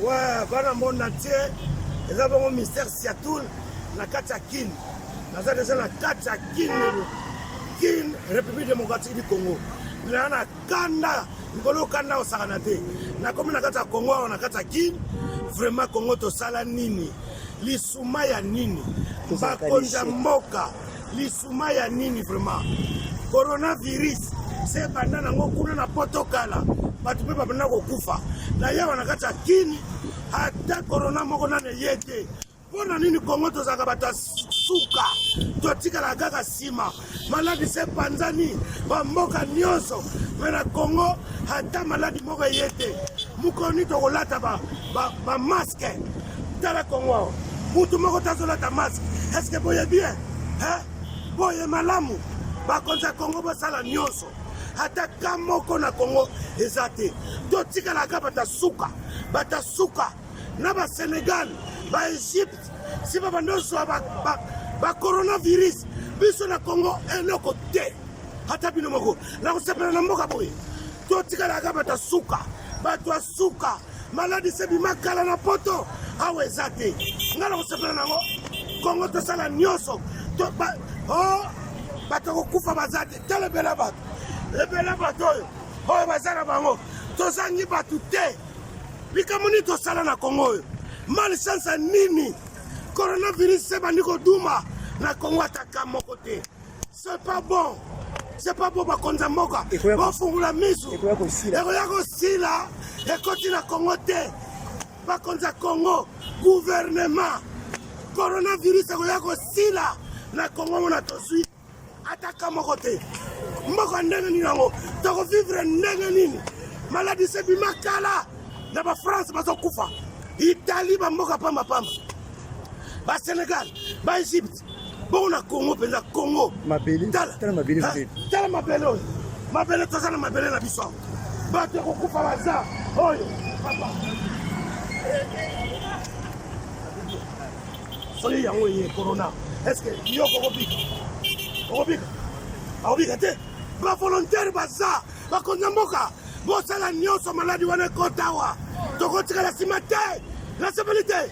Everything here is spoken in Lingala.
Ouais, bana monde entier eza bongo mystère siatoul na kati ya kin naza deja na kati ya kin kin république démocratique du congo naa na kanda likolo kanda kosakana te nakomi na kati ya congo awa na kati ya kin vraiment congo tosala nini lisuma ya nini bakonzi ya mboka lisuma Suma ya nini vraiment? Coronavirus se banda nango kuna na poto kala bato mpe babanda kokufa na yawa na kati ya kini ata korona moko nano eye te mpo na nini kongo tozalaka bato ya suka totikalaka kaka nsima maladi se epanzani bamboka nyonso me na kongo ata maladi moko eye te mokoni tokolata bamaske ba, ba tala kongo awa butu moko tazolata maske eske boye bien eh? boye malamu bakonzi ya kongo basala nyonso ata ka moko na kongo eza te totikalaka batasuka batasuka na basenegal baegypte si babanda ozwa bacoronavirus ba, ba biso na kongo eloko te ata bino moko nakosepela na mboka boye totikalaka batasuka bato ya suka maladi se bima kala na poto awa eza te ngai nakosepela nango kongo tosala nyonso oh, bato kokufa baza te tala ebela bato ebela bato oyo oyo baza na bango tozangi bato te likambo nini tosala na kongo oyo malchance nini coronavirus se bandi koduma na kongo ataka moko te C'est pas bon. C'est pas bon bakonzi ya mboka. Bofungula misu. Ekoya kosila. Ekoya kosila. Ekoti na Congo te. Bakonzi ya Congo, gouvernement. Coronavirus ekoya kosila na Congo mona tozwi ataka moko te. Mboka ndenge nini yango? Toko vivre ndenge nini? Maladi se bima kala na ba France bazokufa. Italie ba mboka pamba pamba. Ba Senegal, ba Egypte bongo na congo mpenza congo tala mabele oyo mabele toza na mabele na biso bato ya kokufa baza oyo soki yango eye corona estce yo kokobika okobika akobika te bavolontaire baza bakonzi ya mboka bosala nyonso maladi wana ekotawa tokotikala nsima te nasepeli te